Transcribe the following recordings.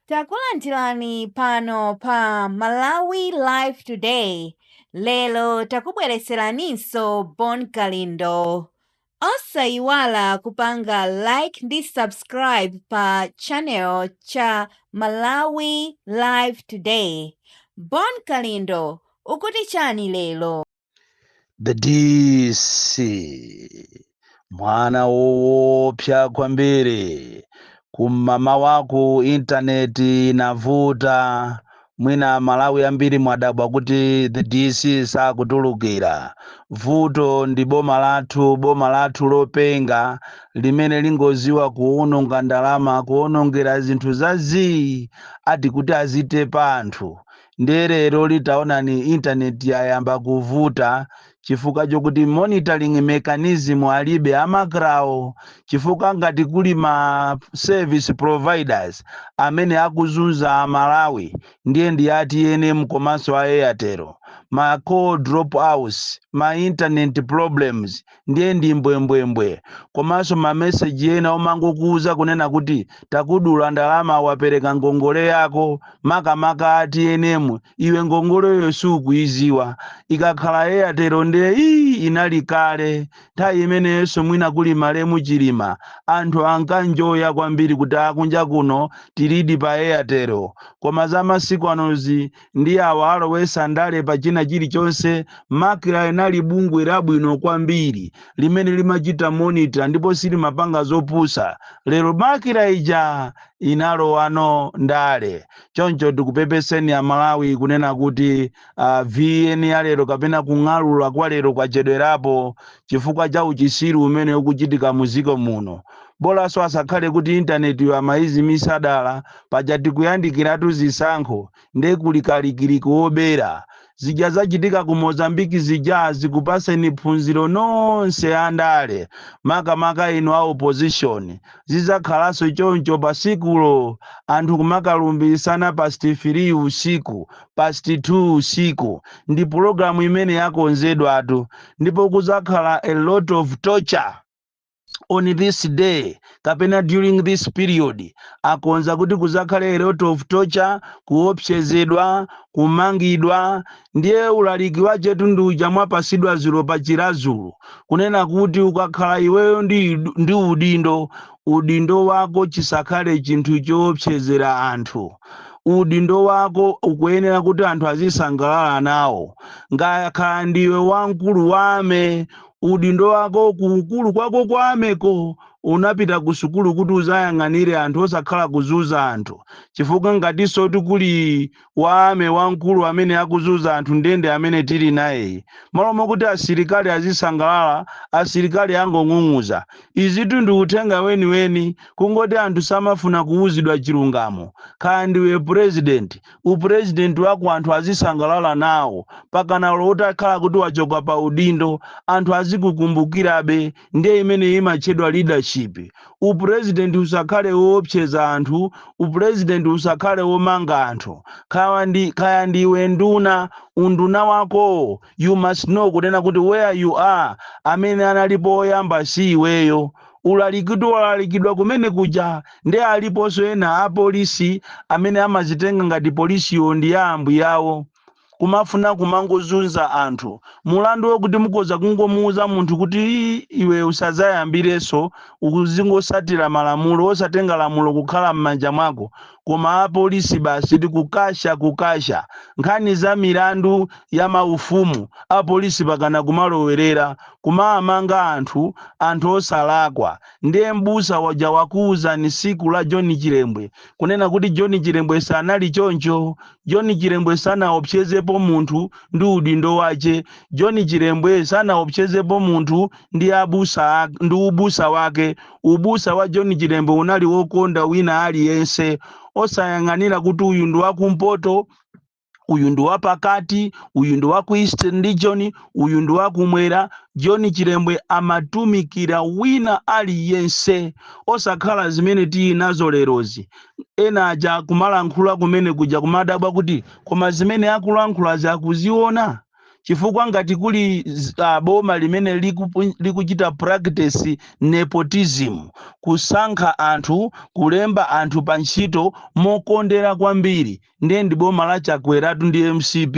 Takulandirani pano pa Malawi Live Today. Lero takubweretseraninso Bon Kalindo. Osayiwala kupanga like ndi subscribe pa channel cha Malawi Live Today. Bon Kalindo ukuti chani lero? the dc mwana woopsa kwambiri kum'mama waku intaneti inavuta mwina malawi ambiri mwadabwa kuti the dc sakutulukira vuto ndi boma lathu boma lathu lopenga limene lingoziwa kuononga ndalama kuonongera zinthu za zii ati kuti azitepa anthu Ndiye leroli taonani intaneti yayamba kuvuta chifukwa chokuti monitoring mechanism alibe a Macrawo chifukwa ngati kuli ma service providers amene akuzunza a Malawi ndiye ndi a tnm komanso a Airtel. Ma call drop outs, ma internet problems ndiye ndi mbwembwembwe komanso ma message ena omangokuuza kunena kuti takudula ndalama wapereka ngongole yako makamaka a tnm iwe ngongoleyo sukuiziwa ikakhala airtel ndiye ii inali kale nthawi imeneyonso mwina kuli malemu chilima anthu ankanjoya kwambiri kuti akunja kuno tilidi pa airtel koma za masiku anozi Ndi awa alowesa ndale pa china chilichonse, macra inali bungwe labwino kwambiri limene limachita monitor ndipo silimapanga zopusa, lero macra ija inalowano ndale, choncho tikupepeseni amalawi kunena kuti vn ya lero kapena kung'alula kwa lero kwachedwerapo chifukwa cha uchisiru umene ukuchitika mu ziko muno. Bolaso asakhale kuti internet yo amaizimisa dala. Paja tikuyandikiratu zisankho nde kuli kalikiliki wobera. Zija zachitika ku Mozambique zija zikupaseni phunziro nonse a ndale makamaka inu a opposition. Zizakhalanso choncho pa sikulo anthu kumakalumbiritsana past 3 usiku, past 2 usiku. Ndi program imene yakonzedwatu ndipo kuzakhala a lot of torture. on this day kapena during this period akonza kuti kuzakhale a lot of torture kuopsezedwa kumangidwa ndiye ulaliki wachetu ndi uja mwapasidwa zulo pa chilazulu kunena kuti ukakhala iweyo ndi udindo udindo wako chisakhale chinthu choopsezera anthu udindo wako ukuyenera kuti anthu azisangalala nawo ngakhala ndiwe wamkulu wame Udindo wako ku ukulu kwako kwa army-ko unapita ku sukulu kuti uzayang'anire anthu osakhala kuzunza anthu chifukwa ngatinso kuti kuli wa army wamkulu amene akuzunza anthu ndiye nde amene tili nayeyi malo mokuti asilikali azisangalala asilikali akung'ung'uza izitu ndi uthenga weniweni kungoti anthu samafuna kuwuzidwa chilungamo kaya ndiwe president u president wako anthu azisangalala nawo pakana olo utakhala kuti wachoka pa udindo anthu azikukumbukirabe ndiye imeneyo imatchedwa leadership u president usakhale woopseza anthu u president usakhale womanga anthu kaya ndiwe nduna unduna wakowo you must know kunena kuti where you are amene analipo oyamba si iweyo ulalikitu walalikidwa kumene kuja nde aliponso ena a police amene amazitenga ngati police yo ndi ya ambuyawo kumafuna kumangozunza anthu mulandu okuti mukhoza kungomuuza munthu kuti iwe usazayambirenso uzingosatira malamulo osatenga lamulo kukhala mmanja mwako koma apolisi basi tikukasha kukasha, nkhani za milandu ya maufumu apolisi pakana kumalowerera kumaamanga anthu anthu osalakwa, nde m'busa waja wakuuzani siku la John Chilembwe kunena kuti John Chilembwe sanali choncho, John Chilembwe sanaopsyezepo munthu ndi udindo wache, John Chilembwe sanaopsyezepo munthu ndi ubusa wake Ubusa wa John Chilembwe unali wokonda wina aliyense osayang'anira kuti uyu ndi wakumpoto, uyu ndi wapakati, uyu ndi wa ku Eastern Region, uyu ndi wakumwera. John Chilembwe amatumikira wina aliyense osakhala zimene tili nazo lerozi. Ena aja kumalankhula kumene kuja kumadabwa kuti koma zimene akulankhulazi akuziona? chifukwa ngati kuli boma limene likuchita practice nepotism kusankha anthu kulemba anthu pa ntchito mokondera kwambiri ndiye ndi boma la chakweratu ndi mcp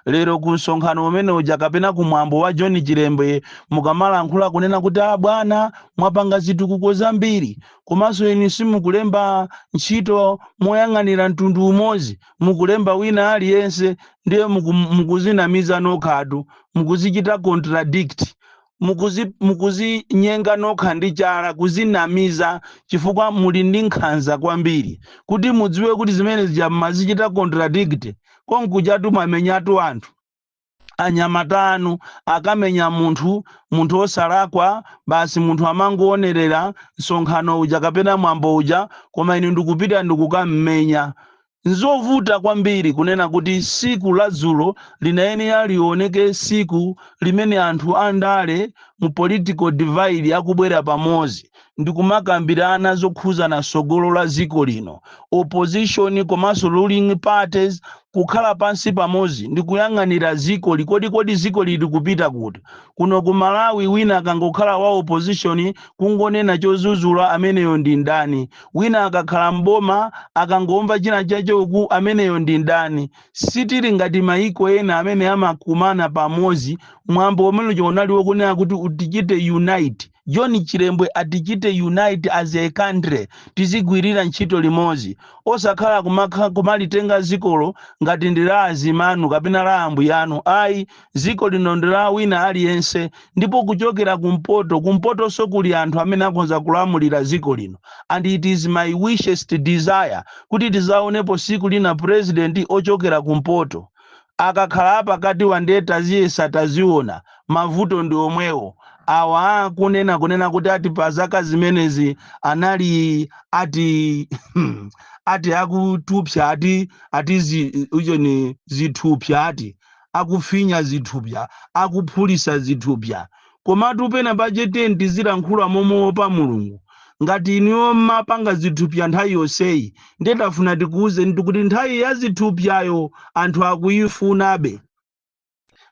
lero ku msonkhano umene uja kapena ku mwambo wa john chilembwe mukamalankhula kunena kuti a bwana mwapanga zitukuko zambiri komanso inu simukulemba ntchito moyang'anira mtundu umodzi mukulemba wina aliyense ndiye muku, mukuzinamiza nokhatu mukuzichita contradict mukuzi mukuzinyenga nokha ndi chala kuzinamiza chifukwa muli ndi nkhanza kwambiri kuti mudziwe kuti zimene zija mmazichita contradict konkujatu mwamenyatu anthu anyamata anu akammenya munthu munthu osalakwa basi munthu amangoonerera msonkhano uja kapena mwambo uja koma inu ndikupita ndikukammenya nzovuta kwambiri kunena kuti tsiku la dzulo linayenera lioneke tsiku limene anthu andale mu political divide akubwera pamodzi ndikumakambirana zokhuzana tsogolo la dziko lino, opposition komanso ruling parties kukhala pansi pamodzi ndikuyang'anira dzikoli kodi kodi dzikoli likupita kuti. Kuno ku Malawi wina akangokhala wa opposition kungonena chodzudzula ameneyo ndi mdani, wina akakhala m'boma akangomva china chache uku ameneyo ndi mdani. Sitili ngati maiko ena amene amakumana pamodzi mwambo umene uja unali wokunena kuti utichite unite. John Chilembwe atichite unite as a country tizigwirira ntchito limodzi osakhala kumakha, kumalitenga dzikolo ngati ndi la adzimanu kapena la ambuyanu ayi dziko lino ndi la wina aliyense ndipo kuchokera kumpoto kumpotonso kuli anthu amene akhonza kulamulira dziko lino and it is my wishest desire kuti tidzaonepo tsiku lina president ochokera kumpoto Akakhala apakatiwa nde taziyesa taziona, mavuto ndi omwewo. Awa akunena kunena kuti ati pa zaka zimenezi anali ati hmm ati akutupsa ati ati zi ujeni zithupsa ati akufinya zithupsa, akuphulisa zithupsa. Komatu pena pache tiyeni tizilankhula momuopa Mulungu. Ngati inuyo mmapanga zithupya nthawi yonseyi ndiye tafuna tikuuzenitu kuti nthawi ya zithupyayo anthu akuifunabe.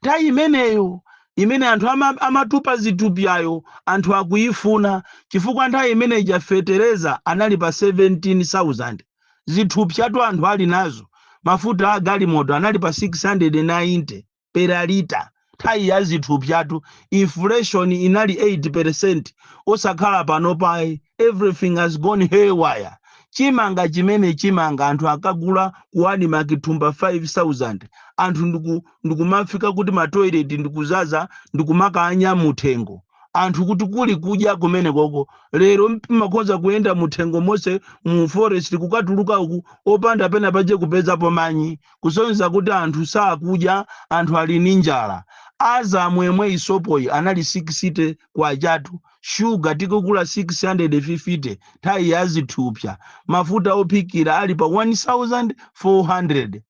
Nthawi imeneyo imene anthu ama amatupa zithupyayo anthu akuifuna chifukwa nthawi imene ija fetereza anali pa 17,000. Zithupyatu anthu ali nazo. Mafuta a galimoto anali pa 690. per lita nthawi ya zithupsyatu inflation inali 8% osakhala panopa ayi everything has gone haywire chimanga chimene chimanga anthu akagula ku admarc thumba 5000 anthu ndiku- ndikumafika kuti matoilet ndikudzadza ndikumakanya muthengo anthu kuti kuli kudya kumene koko lero mmakhoza kuyenda muthengo monse mu forest kukatuluka uku opanda pena pache kupezapo manyi kusonyeza kuti anthu sakudya anthu ali ndi njala Azam yemweyi sopoyi anali 60 kwachatu shuga tikugula 650 nthawi ya zithupsa mafuta ophikira ali pa 1400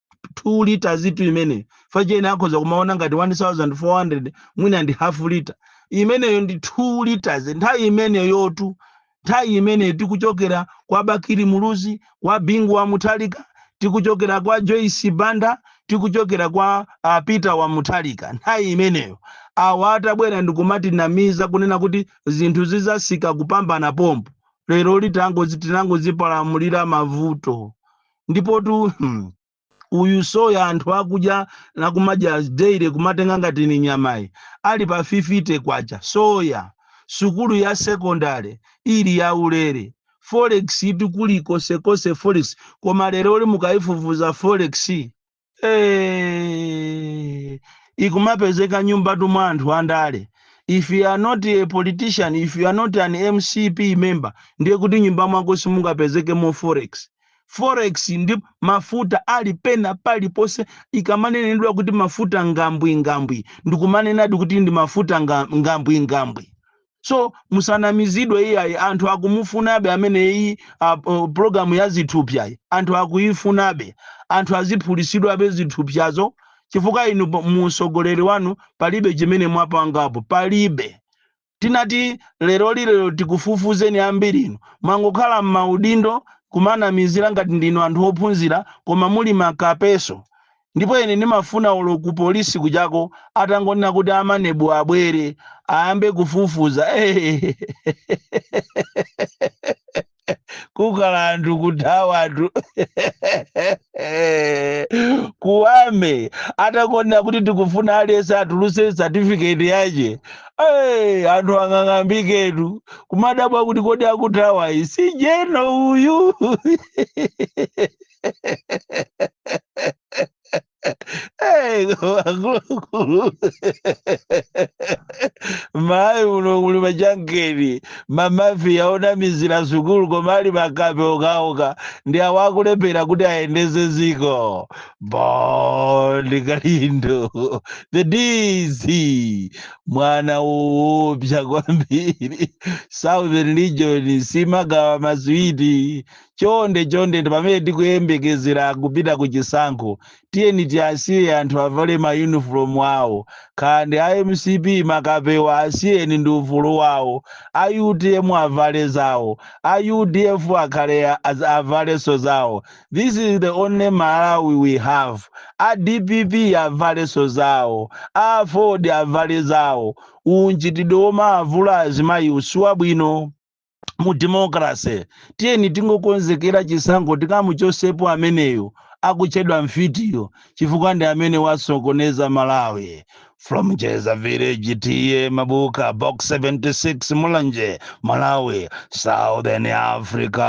2 litazitu imeneyo fachene akhoza kumaona ngati 1400 mwina ndi half lita imeneyo ndi 2 liters nthawi imeneyotu nthawi imeneyi tikuchokera kwa Bakili Muluzi, kwa Bingu wa Mutharika, tikuchokera kwa Joyce Banda, tikuchokera kwa a Peter wa Mutharika. Nthawi imeneyo awa atabwera ndikumatinamiza kunena kuti zinthu zizasika kupambana pompo, lero litangozi tinangozipalamulira mavuto ndipotu hmm, uyu soya anthu akuja akumadya daily kumatenga ngati ni nyamayo ali pa 50 kwacha soya sukulu ya sekondale ili ya ulere forex itu kulikonsekonse forex koma leroli mukayifufuza forex eh, ikumapezeka mnyumbatu mwa anthu andale if you are not a politician if you are not an mcp member ndiye kuti nyumba mwako simungapezekemo forex Forex ndi mafuta ali pena paliponse ikamanenedwa kuti mafuta ngambwingambwi ndikumanenadi kuti ndi mafuta ngambwingambwi so musanamizidwe iyayi anthu akumufunabe amene iyi a, o, programu ya zithupsayi anthu akuyifunabe anthu aziphulisidwabe zithupsazo chifukwa inu po- mu usogoleri wanu palibe chimene mwapangapo palibe tinati leroli lero tikufufuzeni ambirinu mwangokhala mmaudindo kumanamizira ngati ndinu anthu ophunzira koma muli makapenso ndipo ine ndimafuna olo ku police kujako atangonena kuti a maneb abwere ayambe kufufuza ehehehe. kukhala anthu kuthawa anthu kuwamba atangonena kuti tikufuna aliyense atuluse certificate yache Hey, anthu ang'ang'ambiketu kumadabwa kuti kodi akuthawa iyi si jeno uyu akuluakulu Malawi muno muli machankeni mamafiya onamizira sukulu koma ali makape okaoka ndi awo akulephera kuti ayendeze ziko bon kalindo the dc mwana woopsa kwambiri southern region simagawa maswiti chonde chonde pamene tikuyembekezera kupita ku chisankho tiyeni tiasiye anthu avale mayunifomu awo kaya ndi a mcp makapewa asiyeni ndi ufulu wawo a utm avale zawo a udf akhale a- az- avalenso zawo this is the only malawi we have a dpp avalenso zawo a aford avale zawo unchitidwe womavula azimayi uwu siwabwino mu democracy tiyeni tingokonzekera chisankho tikamuchotsepo ameneyo akutchedwa mfitiyo chifukwa ndi amene wasokoneza malawi from jeza village t a mabuka box 76 mulanje malawi southern africa